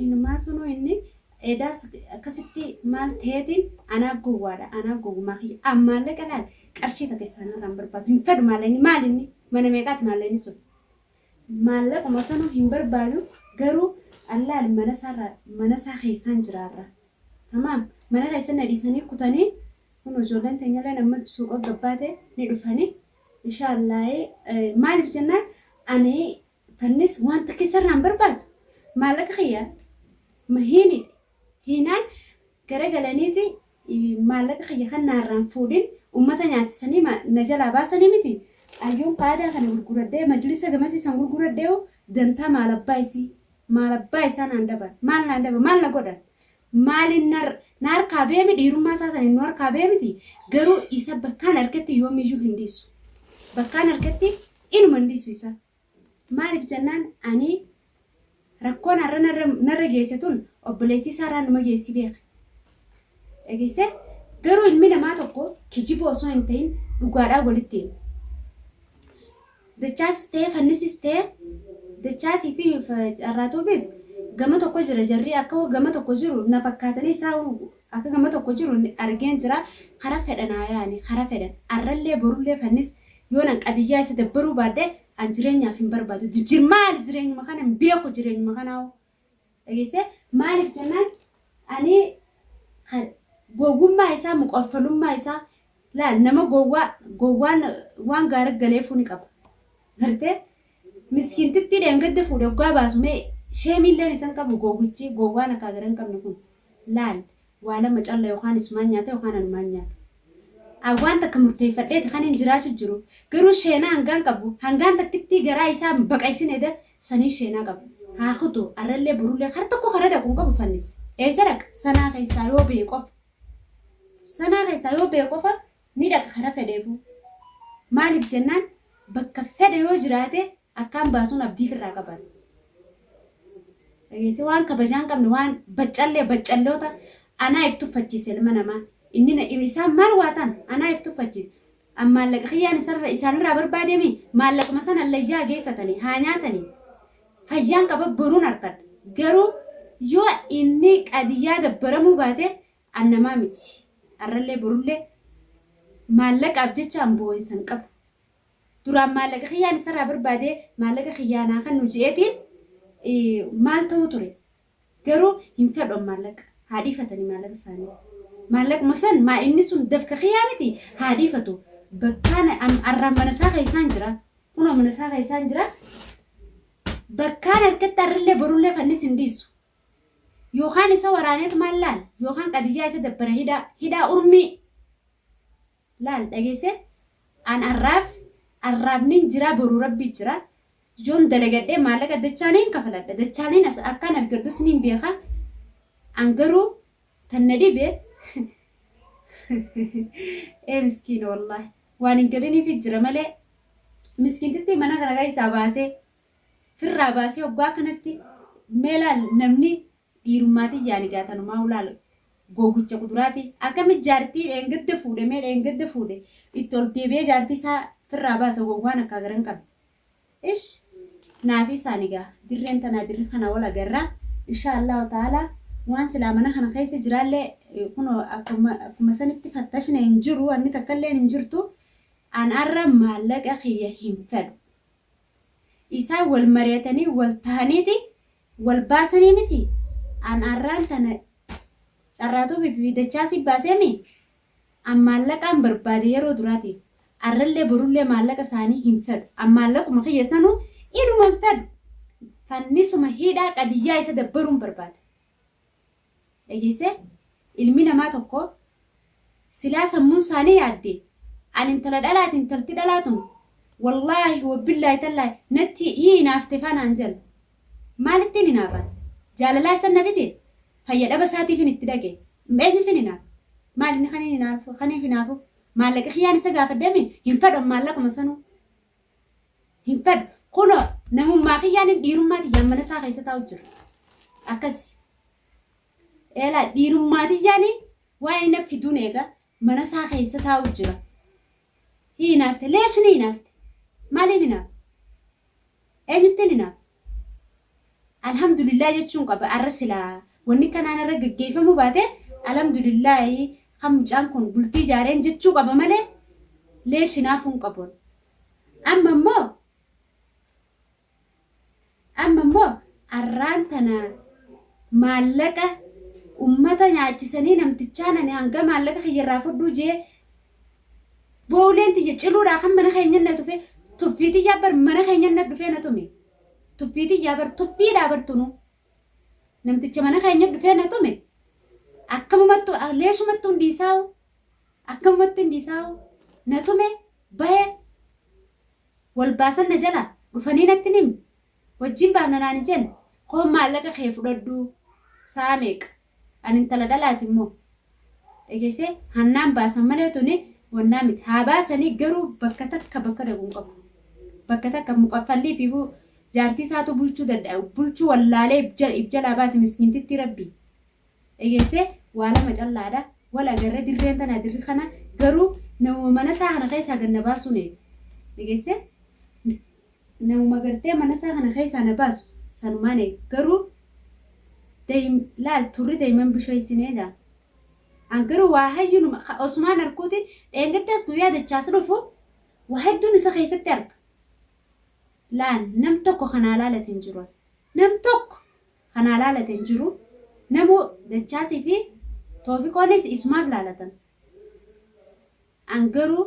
Inumaa sunuu inni edaas akkasitti maal ta'eetiin anaa gowwaadha anaa gowwumaa kiyya an maallaqa laal qarshii takka isaanirraa hin barbaadu hin fedhu maallaqni maal inni mana meeqaati maallaqni sun maallaquma sanuu hin barbaadu garuu allaal mana isaarraa mana isaa keessaan jiraarra tamaam mana keessan na dhiisanii kutanii kun ijoolleen teenyallee amma suuqa gabbaate ni dhufanii inshaallaahee maaliif jennaan ani Fannis waan takka isarraa hin barbaadu. Maallaqa kiyya mahiinidhe. Hiinaan gara galaniiti maallaqa kiyya kan naarraan fuudhin ummata nyaachisanii ma na jalaa baasanii miti? Ayyuun qaadaa kana gurguradhee majlisa gamasii san gurguradhee hoo dantaa maal abbaa isii? Maal abbaa isaa naan daban? Maal naan daban? Maal na godhan? Maalin nar, na harkaa beemi dhiirummaa isaa saniin nu harkaa beemiti garuu isa bakkaan arketti yoomiyyuu hin dhiisu. Bakkaan arketti inuma hin dhiisu isa. Maaliif jennaan ani rakkoon har'a narra, narra geesse tun obboleettii isaa irraa numa geessi beeka. Dhageessee? Garuu ilmi namaa tokko kijiba osoo hin ta'in dhugaadhaan walitti hima. Dachaasis ta'ee fannisis ta'ee dachaasii fi dharraatuufis gama tokko jira jarri akka gama tokko jiru na fakkaatanii isaa akka gama tokko jiru argeen jira kara fedhan haa yaani kara fedhan arrallee borullee fannis yoon an qadiyyaa isa dabbaruu baadhe an jireenyaaf hin barbaadu jijjir maali jireenyuma kana hin beeku jireenyuma kanaa dhageessee maaliif jennaan ani kan gowwummaa isaa muqortolummaa isaa laal nama gowwaa gowwaan waan gaarii galeefuu ni qaba gartee miskiintittii dheengadda fuudhe oggaa baasu mee sheemiilleen isan qabu gowwichi gowwaan akkaa gara hin qabne kun laal Waa lama calla yokaan isumaan nyaata yokaan anumaan nyaata. An waan takka murteeffadheeti kaniin jiraachu jiru. Garuu sheenaa hangaan qabu hangaan takkittii garaa isaa hin baqaysine da saniin sheenaa qaba. Haa kutu arrallee borullee kar tokko kara dhaqu hin qabu fannis. Eysa dhaqa? Sanaa keessaa yoo bahe qofa. Sanaa keessaa yoo bahe qofa ni dhaqa kara fedheefuu. Maaliif jennaan bakka fedhe yoo jiraate akkaan baasuun abdii firraa qaban dhageesse waan kabajaa hin qabne waan baccallee baccalloota anaa if tuffachiise ilma namaa inni na dhibe isaan maal waa ta'an anaa if tuffachiise an maallaqa kiyyaan isarra isaanirraa barbaademi maallaquma sana allayyaa geeffatanii haa nyaatanii fayyaan qaba boruun harkadha garuu yoo inni qadiyyaa dabbaramuu baate an namaa miti har'allee borullee maallaqaaf jecha an boo'insa hin qabu duraan maallaqa kiyyaan isarraa barbaade maallaqa kiyyaan haa kennu je'eetiin eh, maal ta'uu ture garuu hin fedhan maallaqa haa dhiifatanii maallaqa isaanii maallaquma san maa inni sun dafka kiyyaa miti haa dhiifatu bakkaan am- arraan mana isaa keessaan jira kunoo mana isaa keessaan jira bakkaan harkatti arrillee borullee fannis hin dhiisu yookaan isa waraaneetu maal laal yookaan qadiyyaa isa dabbara hidhaa hidhaa urmii Laal, dhageesse? An arraaf, arraaf nin jira, boru Rabbi jira. Yoon dalagadhe maallaqa dachaa nin kafaladha, dachaanin as akkaan argadhus nin beeka. An garuu tan na dhibe ee miskiina wallaahi. Waan hin galiniifi jira malee miskiintittii mana kana keessaa baasee, firraa baasee hoggaa akkanatti mee laal namni Dhiirummaa tiyyaan egaa tanumaa ulaal gowwicha kuduraafi akkami jaartii dheengadda fuudhe mee dheengadda fuudhe itti ol deebi'ee jaartii isaa firraa baasa gowwaan akkaa gara hin qabne ish naa fi isaan egaa dirreen tanaa dirri kanaa wal agarraa inshaa Allahu ta'aalaa waan silaa mana kana keessa jiraallee kunoo akkuma akkuma sanitti fattashne hin jiru wanni takkalleen hin jirtu an arra maallaqa kiyya hin fedhu isaan wal mari'atanii wal tahaniiti Wal baasanii miti? An arraan tana carraa tuubii fi dachaasii baasee mi? An maallaqaan barbaade yeroo duraati. Arrallee borullee maallaqa isaanii hin fedhu. An maallaquma kiyya sanuu inuma hin fedhu. Fannisuma hidhaa qadiyyaa isa dabbaruun barbaada. dhageesse ilmi namaa tokko silaa sammuun isaanii yaadde an intala dhalaati intalti dhalaa tun wallaahi wabbillaahi tallaahi natti hii hinaafte faanaan jedhan maalittiin hinaafan jaalalaa isan na fide fayya dhaba isaatiifin itti dhaqe eenyufin hinaaf maalinni kaniin hinaafu kaniif hinaafu maallaqi kiyyaan isa gaafadhame hin fadhan maallaquma sanuu hin fedhu. Kunoo namummaa kiyyaanin dhiirummaa tiyyaan mana isaa keessa taa'u jira. Akkas eelaa dhiirummaa tiyyaanin waan inni fiduun eega mana isaa keessa taa'u jira. Hinaafte leesni hinaafte maaliin hinaafte eenyutti hinaafte Alhamdulillah jechuun qaba arra silaa wanni kanaan irra gaggeeffamuu baate alhamdulillaahi kan mucaan kun bultii ijaareen jechuu qaba malee leesh hinaafuu hin qabu amma immoo amma immoo arraan tana maallaqa ummata nyaachisanii namtichaan ani hanga maallaqa kiyyarraa fudhuu jee Booleen tiyya ciluudhaa kan mana keenya na tufe tuffii tiyyaa bar mana keenya na dhufee na tume. Tuffii tiyyaa bar tuffiidhaa bar tunu. Namticha mana keenya dhufee na tume akkamumattu leesumattu hin dhiisaa'u akkamumatti hin dhiisaa'u na tume bahe wal baasan na jala dhufanii natti hin himne. Wajjin baana naan hin jenne? Koon maallaqa kee fudhadhuu. Sa'a meeqa? Ani intala dhalaati immoo. Dhageessee? Hannaan baasan malee tuni wannaa miti. Haa baasanii garuu bakka takka bakka dhaqu hin qabu. Bakka takka mukaffallii ifiifuu jaartii isaatu bulchuu danda'a. Bulchuu wallaalee if jalaa baase miskiintittii rabbii. dhegesse waa lama callaadha wal agarre dirreen tana dirri kana garuu namuma mana isaa kana keessaa gad na baasuu na eega dhegesse namuma gartee mana isaa kana keessaa na baasu sanumaan eega garuu dayim laal turri dayiman bisheessinee jaa an garuu waa hayyuun osumaan arkuuti dheengaddaas guyyaa dachaas dhufu waa hedduun isa keessatti arga laal nam tokko kanaa laalatiin jiru nam tokko ka naa laalate hin jiru. Namuu Dachaasii fi Toofiqoonis isumaaf laalatan. An garuu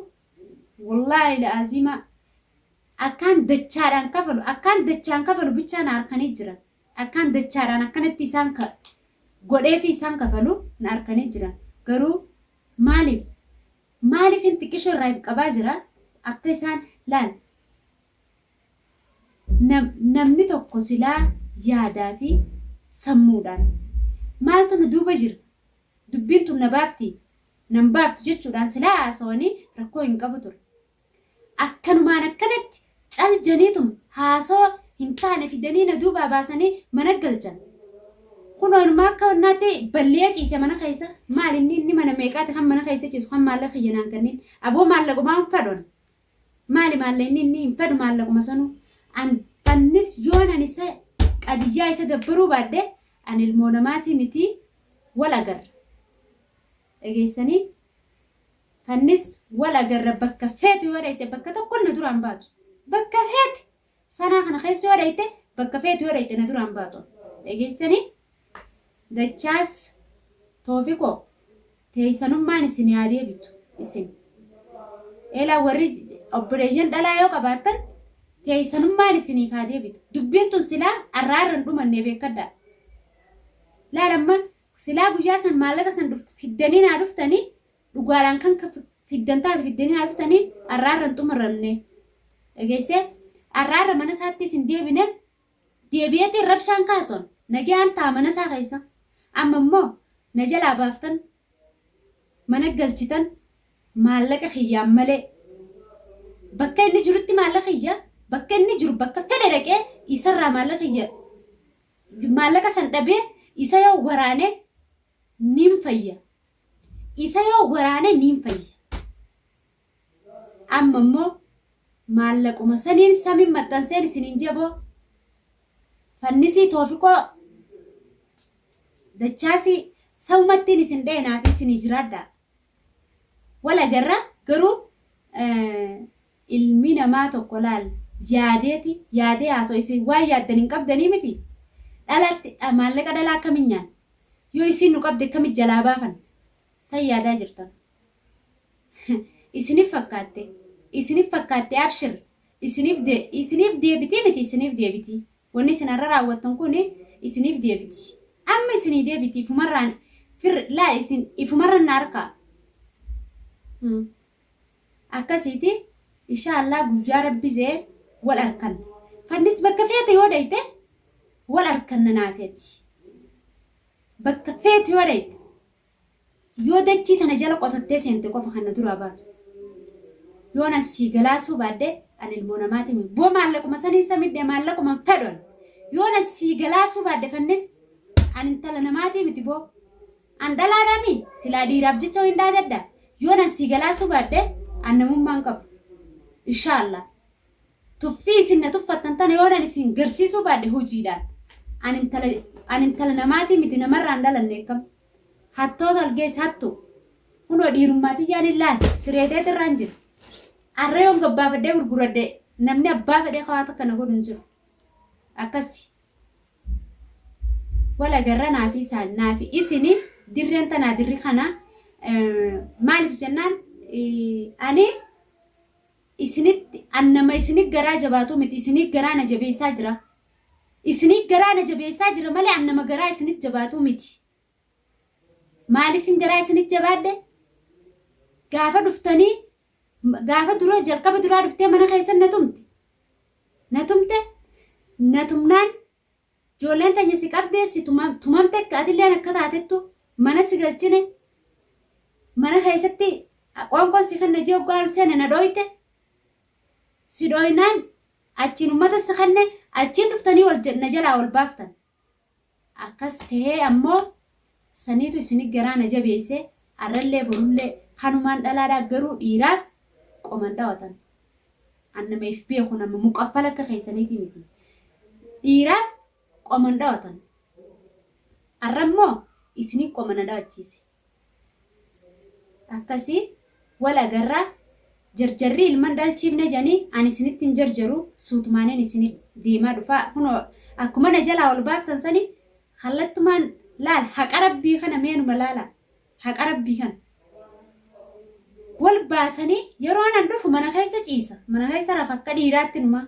wollaahi la'aziima akkaan dachaadhaan kafalu akkaan dachaan kafalu bichaa na arkanii jiran. Akkaan dachaadhaan akkanatti isaan ka godheefii isaan kafalu na arkanii jiran. Garuu maaliif maaliifin xiqqisho irraa if qabaa jira akka isaan laal Namni tokko silaa yaadaa fi sammuudhaan maaltu nu duuba jira? Dubbiin tun na baafti, nan baaftu jechuudhaan silaa haasawanii rakkoo hin qabu ture. Akkanumaan akkanatti cal janiitum haasawa hin taane fidanii na duubaa baasanii mana galchan. Kunoo inumaa akka wannaatti balli'ee ciise mana keessa. Maal inni inni mana meeqaati kan mana keessa ciisu kan maallaqa kiyya naan kanniin. Aboo maallaqumaa hin fadhoon. Maali maalleenni inni hin badu maallaquma sanu an bannis yoon an isa qadiyyaa isa gabbaruu baadhe an ilmoo namaatii miti wal agarra dhageessanii fannis wal agarra bakka feetu yoo dhayxe bakka tokkon na duraan baatu bakka feete Sanaa kana keessa yoo dhayte bakka feetu yoo dhayte na duraan baatu. Dhageessanii dachaas toofikoo teessanummaan isin yaa deebitu isin. Eelaa warri obboleeyyan dhalaa yoo qabaattan teessanummaan isiniif haa deebitu. Dubbiin tun silaa arraa irra hin dhumanne beekadhaa. Laal amma silaa guyyaa san maallaqa san fiddanii naa dhuftanii dhugaadhaan kan ka- fiddan taate fiddanii haa dhuftanii arraarra hin xumuramne dhageessee arraarra mana isaatti isin deebine deebi'eetiin rabshaan kaasuun nagaan ta'a mana isaa keessa amma immoo na jalaa baaftan mana galchitan maallaqa kiyyaan malee bakka inni jirutti maallaqa kiyya bakka inni jiru bakka fedhe dhaqee isarraa maallaqa kiyya maallaqa san dhabee isa yoo waraane nin fayya Isa yoo waraane niin fayya. Amma immoo maallaquma saniin samiin maxxanseen isiniin jeboo fannisii toofiqoo dachaasii sawumattiin isin dheenaa fi isinii jiraadhaa. Wal agarra garuu Ilmi namaa tokko laal yaadeeti yaadee haasawa isin waan yaaddan hin qabdanii miti dhalatti maallaqa dhalaa akkami nyaanna yoo isiin nu qabde akkami jalaa baafanna san yaadaa jirtan isinif fakkaatte isinif fakkaatte abshir isinif isinif deebitii miti isinif deebitii wanni isin har'a raawwattan kun isinif deebiti amma isinii deebiti ifumarraan fir laal isin ifumarran na harkaa Akkasiiti inshaa Allah guyyaa rabbi jee wal arkanna fannis bakka feete yoo dhayxe wal arkanna naafi ati bakka feete yoo dhayxe yoo dachii tana jala qotattee seente qofa kan na duraa baatu yoo nan sii galaasuu baadde an ilmoo namaati mi boo maallaquma saniin sa midhe maallaquma hin fedhu an yoo nan sii galaasuu baadde fannis an intala namaatii miti boo An dhalaadhaa mii? Silaa dhiiraaf jecha wayin dhaadadha? Yoon an sii galaasuu baadhe an namummaa hin qabu. Inshaa Allah. Tuffii isin na tuffattan tana yoon an isin garsiisuu baadhe hojiidhaan. An intala an intala namaatii miti namarraa hin dhalanne akkam. Hattoota algees hattu. Kunoo dhiirummaa tiyyaan illaal siree teeti irraan jira. Arra yoon gabbaafadhee gurguradhe namni abbaa fedhee kawaa takka na godhu hin jiru. Akkasi. Wal agarra naafi isaan naafi isini dirreen tanaa dirri kana maaliif jennaan ani isinitti an nama isinii garaa jabaatu miti isinii garaa na jabeessaa jira isinii garaa na jabeessaa jira malee an nama garaa isinii jabaatu miti Maaliifin garaa isinitti jabaadhe? Gaafa dhuftanii gaafa dura jalqaba duraa dhuftee mana keessan na tumte. Na tumte na tumnaan ijoolleen teenya si qabdee si tumamte akka atilleen akka taatettu mana si galchine mana keessatti qoonqoon si kenna jee oggaa ol seene na dhooyte. Si dhooynaan achiin ummata si kenne achiin dhuftanii wal na jalaa wal baaftan. Akkas tahee ammoo saniitu isin garaa na jabeesse arrallee borullee kanumaan dhalaadhaa garuu dhiiraaf qoman dhawatan an nama if beeku nama muqaffala akka keessaniitii miti dhiiraaf qoman dhawatan arrammoo isinii qoma na dhawachiise akkasi wal agarra jarjarri ilman dhalchiifne jani ani isinitti hin jarjaru suutumaanin isini deemaa dhufa kuno akkuma na jalaa wal baaftan sani kallattumaan laal haqa rabbii kana meenuma laala haqa rabbii kana wal baasanii yeroo nan dhufu mana keessa ciisa mana keessa rafa akka dhiiraatti numaa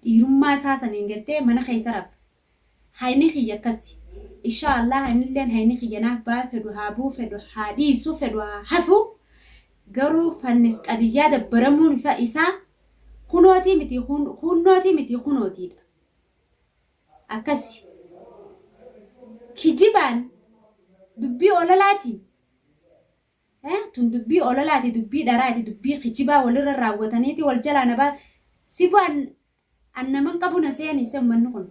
dhiirummaa isaa saniin gartee mana keessa rafa Haymi kiyya akkasi inshaa allaah anilleen hayni kiyya naaf baha fedhu haa buhu fedhu haa dhiisu fedhu haa hafu garuu fannis qadiyyaa dabbaramuun ifa isaa kunootii miti kuunnootii miti kunootiidha akkasi kijibaan dubbii olalaatiin tun dubbii olalaati dubbii dharaati dubbii kijibaa walirra raawwataniiti wal jalaa nabaa sibu'an An naman qabu na seenise ummanni kun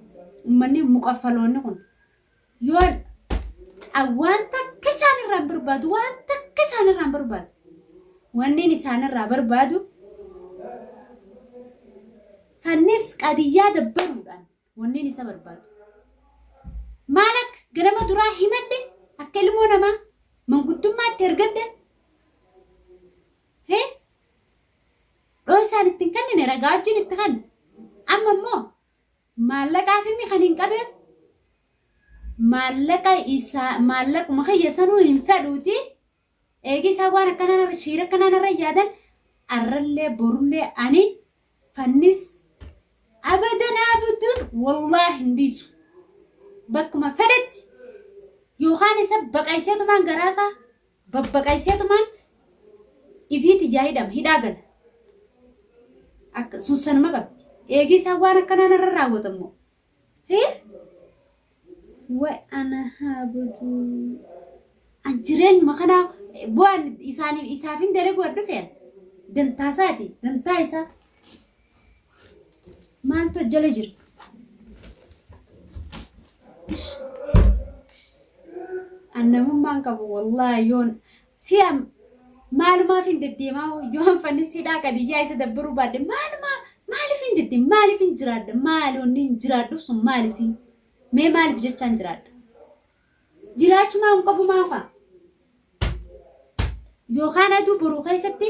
ummanni muqaffaloonni kun yoo an waan takka isaan irraa hin barbaadu waan takka isaan irraa hin barbaadu wanniin isaan irraa barbaadu fannis qadiyyaa dabbaruudhaan wanniin isa barbaadu maal akka ganama duraa himadhe akka ilmoo namaa manguddummaatti ergadhe He? Dhoysaan itti hin kennine ragaajjiin itti kenne. Amma immoo maallaqaa fi kan hin qabeef maallaqa isaa maallaquma kiyya sanuu hin fedhuuti. Eegii isaa waan akkanaa shiira akkanaa narra yaadan arrallee borullee ani fannis abadan abduun wallaahi hin dhiisu. Bakkuma fedhetti yookaan isa baqayseetumaan garaasaa babbaqayseetumaan ifiit ijaa hidhama hidhaa gala akka suussanuma qabdi eegii isaan waan akkanaa narra raawwatan moo hee way ana haa baduu an jireenyuma kanaa bu'aan isaaniif isaaf hin dalagu waan dhufean dantaa isaati dantaa isaa Maaltu as jala jira? An namummaan qabu wallaahi yoon si'a maalumaaf hin deddeemaa yoon fannisidhaa qadiyyaa isa dabbaruu baadde maalumaa maaliif hin deddeema maaliif hin jiraadha maali wanni hin jiraadhuuf sun maali siin mee maaliif jechaan jiraadha jiraachuu maa hin qabu maafa yookaan aduu boruu keessatti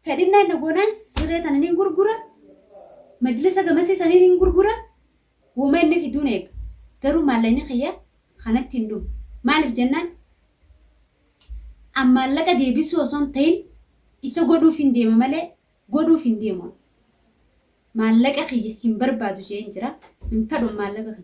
Fedhinna inni goonaan siree tana nin gurgura, majlisa gamasii sanii nin gurgura, woma inni fiduun eega. Garuu maallaqni kiyya kanatti hin dhumu. Maaliif jennaan an maallaqa deebisuu osoo hin ta'in isa godhuufin deema malee godhuuf hin deemu an. Maallaqa kiyya hin barbaadu je'een jira. Hin fedhu an maallaqa kiyya.